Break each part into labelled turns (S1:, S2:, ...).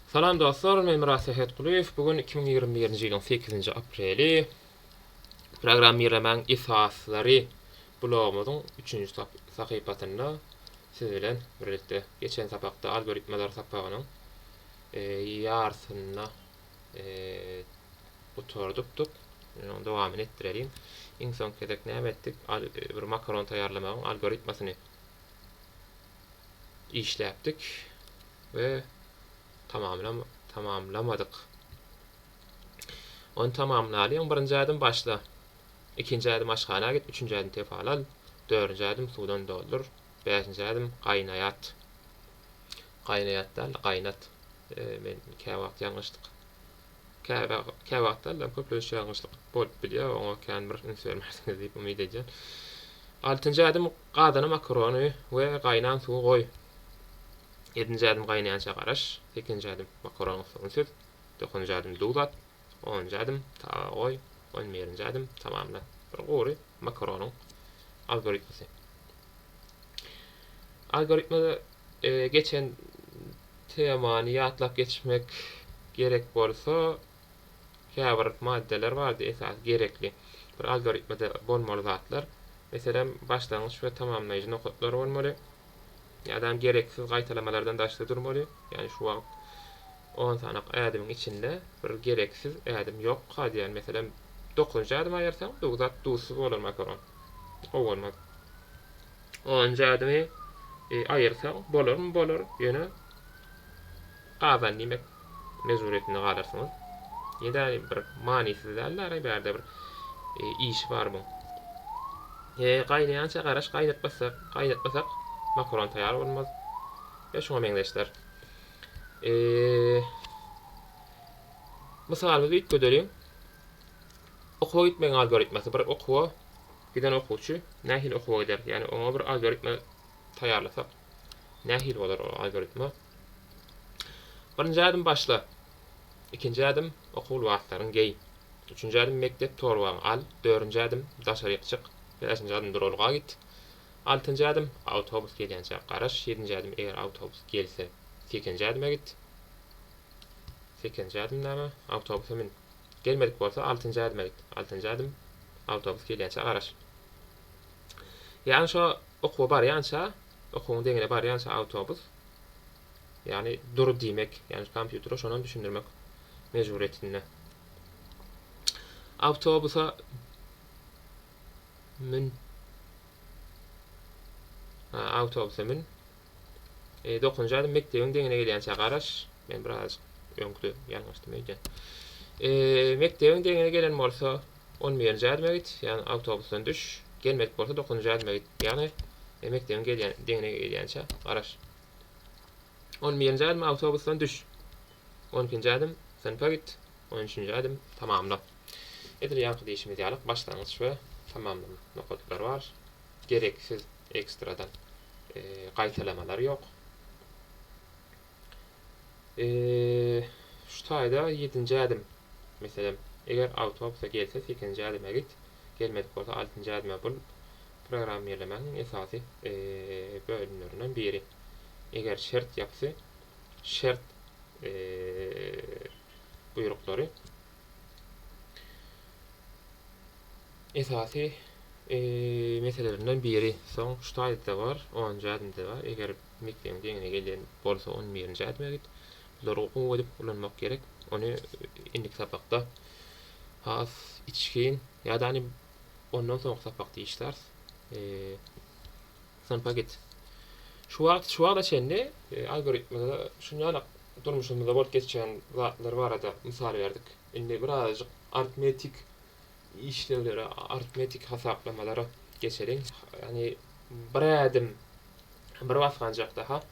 S1: Salam dostlar, men Myrat Sähetgulyýew. Bu gün iki müň ýigrimi birinji ýylyň sekizinji apreli. Programmirlemäň esaslary blogumyzyň üçünji sahypasynda siz bilen birlikde geçen sapakda algoritmalar sapagynyň ýarysyny gutardykdyk. Indi onuň dowamyny etdireliň. Iň soňky gezek näme etdik? Bir makaron taýýarlamagyň algoritmasyny işläpdik we tamamlamadyk. Ony tamamlalyň, birinji ädim başla, ikinji ädim aşhana git, üçünji ädim tefal al, dördünji ädim suwdan doldur, bäşinji ädim gaýnaýat, gaýnaýat däl-de, gaýnat, men käwagt ýalňyşdyk. Käbä käwagtlar-da köplenç ýalňyşlyk bolup bilýär, oňa kän bir üns bermersiňiz diýip umyt edýän. Altynjy ädim, Gazana makarony we gaýnan suwy goý. Ýedinji ädim, Gaýnaýança garaş. Sekizinji ädim, Makaronyň suwuny süz. Dokuzynjy ädim, Duz at. Onunjy ädim, Taba goý. On birinji ädim, Tamamla. Bir gury makaronyň algoritmasy. Algoritmada Geçen temany ýatlap geçmek gerek bolsa, käbir maddeler bardy, esasy gerekli, bir algoritmada bolmaly zatlar. Meselem, başlangyç we tamamlaýjy nokatlar bolmaly. Ýa-da gereksiz gaýtalamalardan daşda durmaly. Ýagny şu wagt on sanaky ädimiň içinde bir gereksiz ädim ýokka diýýän. Meselem, dokuzynjy ädimi aýyrsaň, bu zat duzsuz bolar makaron. Gowy bolmaz. Onunjy ädimi aýyrsaň, bolarmy bolar, ýöne gazan diýmek mejburyýetinde galarsyňyz. Ýa-da bir manysyz däl ara, bärde bir işi bar muň. He, gaýnaýança garaş, gaýnatmasak, gaýnatmasak makaron taýýar bolmaz we şuňa meňzeşler. Mysalymyzy üýtgedeliň. Okuwa gitmegiň algoritmasy, bir okuwa Giden okuwçy nähili okuwa gider? Ýagny oňa bir algoritma taýýarlasak, nähili bolar ol algoritma? Birinji ädim başla. Ikinji ädim okuw lybaslaryňy geý. Üçünji ädim mekdep torbaňy al. Dördünji ädim daşaryk çyk. Bäşinji ädim duralga git. Altynjy ädim awtobus gelýänçä garaş. Ýedinji ädim eger awtobus gelse sekizinji ädime git. Sekizinji ädim näme? Awtobusa mün. Gelmedik bolsa altynjy adyma git. Altynjy adym awtobus gelýänçä garaş. Ýagny şo okuwa barýança, okuwyň deňine barýança awtobus ýagny dur diýmek, ýagny kompýutere şonam düşündirmek mejburyýetinde. Awtobusa mün. Awtobusa mün. E, dokuzynjy aýda mekdebiň deňine gelýänçä garaş. Men birazajyk öňküde ýalňyşdym öýdýän. E, mekdebiň deňine gelen bolsa, on birinji aýdyma git, ýagny awtobusdan düş. Gelmedik bolsa dokuzynjy aýdyma git. Ýagny e, mekdebiň gelýän deňine gelýänçä garaş. On birinji aýdym awtobusdan düş. On ikinji aýdym synpa git. On üçünji aýdym tamamla. Edil ýaňky diýşimiz ýaly başlangyç we tamamlama nokadyklary bar. Gereksiz ekstradan gaýtalamalar ýok. Şu taýda ýedinji ädim. Meselem, eger awtobusa gelse sekizinji ädime git, gelmedik bolsa altynjy ädime bul programmirlemäniň esasy bölümlerinden biri. Eger şert ýapysy şert buýruklary esasy meselelerinden biri. Soň ştaýlda bar, onunjy adymda bar. Eger mekdebiň deňine gelýän bolsa, on birinji adyma git. Bulary okuw edip ulanmak gerek. Ony indiki sapakda has içgin ýa-da ondan soňky sapakda işläris. Synpa git. Şu wagt şu wagta çenli algoritmada şunýalak durmuşymyzda bolup geçýän zatlar barada mysal berdik. Indi birazajyk artmetik işlewlere, artmetik hasaplamalara geçeliň. Ýagny bir ädim, bir basganjak daha,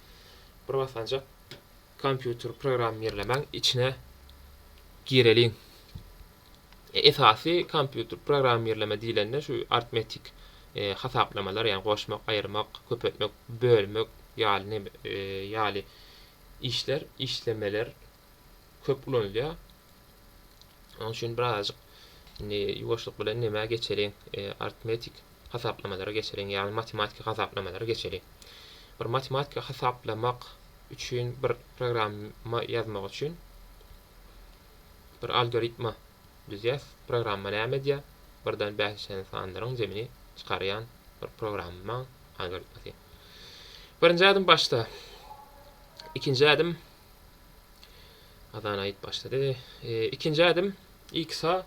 S1: bir basganjak kompýuter programmirlemäň içine gireliň. Esasy kompýuter programmirleme diýlende şu artmetik hasaplamalar, ýagny goşmak, aýyrmak, köpeltmek, bölmek ýaly ýaly işler, işlemeler köp ulanylýar. Onuň üçin birazajyk indi ýuwaşlyk bilen nämä geçeliň, artmetik hasaplamalara geçeliň, ýagny matematiki hasaplamalara geçeliň. Bir matematiki hasaplamak üçin bir programma ýazmak üçin Bir algoritma düzýäs, programma näme edýä, birden bäş çenli sanlaryň jemini çykarýan bir programma algoritmasy. Birinji ädim başda. Ikinji ädim Azan aýyt başlady. Ikinji ädim x-a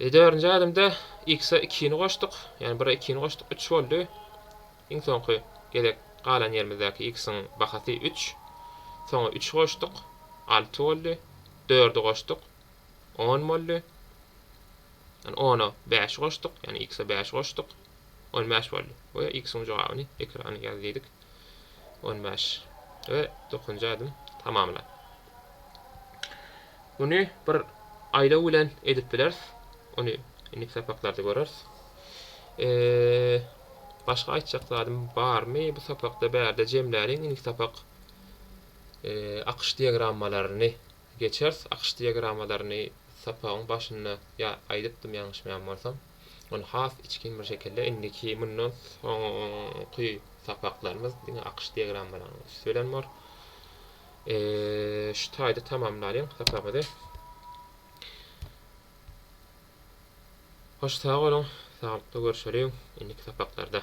S1: E dördünji adymda x-e ikini goşduk, ýagny bire ikini goşduk, üç boldy. Iň soňky gezek galan ýerimizdäki x-iň bahasy üç. Soňa üçi goşduk, alty boldy. Dördi goşduk, on boldy. Ýagny ona bäşi goşduk, ýagny x-e bäşi goşduk, on bäş boldy. We x-iň jogabyny ekrana ýaz diýdik. On bäş. We dokuzynjy adym tamamlan. Muny bir aýlaw bilen edip bileris. Ony indiki sapaklarda göreris. Başga aýtjak zadym barmy? Bu sapakda bärde jemläliň. Indiki sapak akyş diagrammalaryny geçeris. Akyş diagramalaryny sapagyň başynda ýa aýdypdym ýalňyşmaýan bolsam. Ony has içgin bir şekilde indiki mundan soňky sapaklarymyz diňe akyş diagrammalanyň üsti bilen bor. Şu taýda tamamlalyň sapagymyzy. Hoş sag boluň, saglykda görşeliň indiki sapaklarda.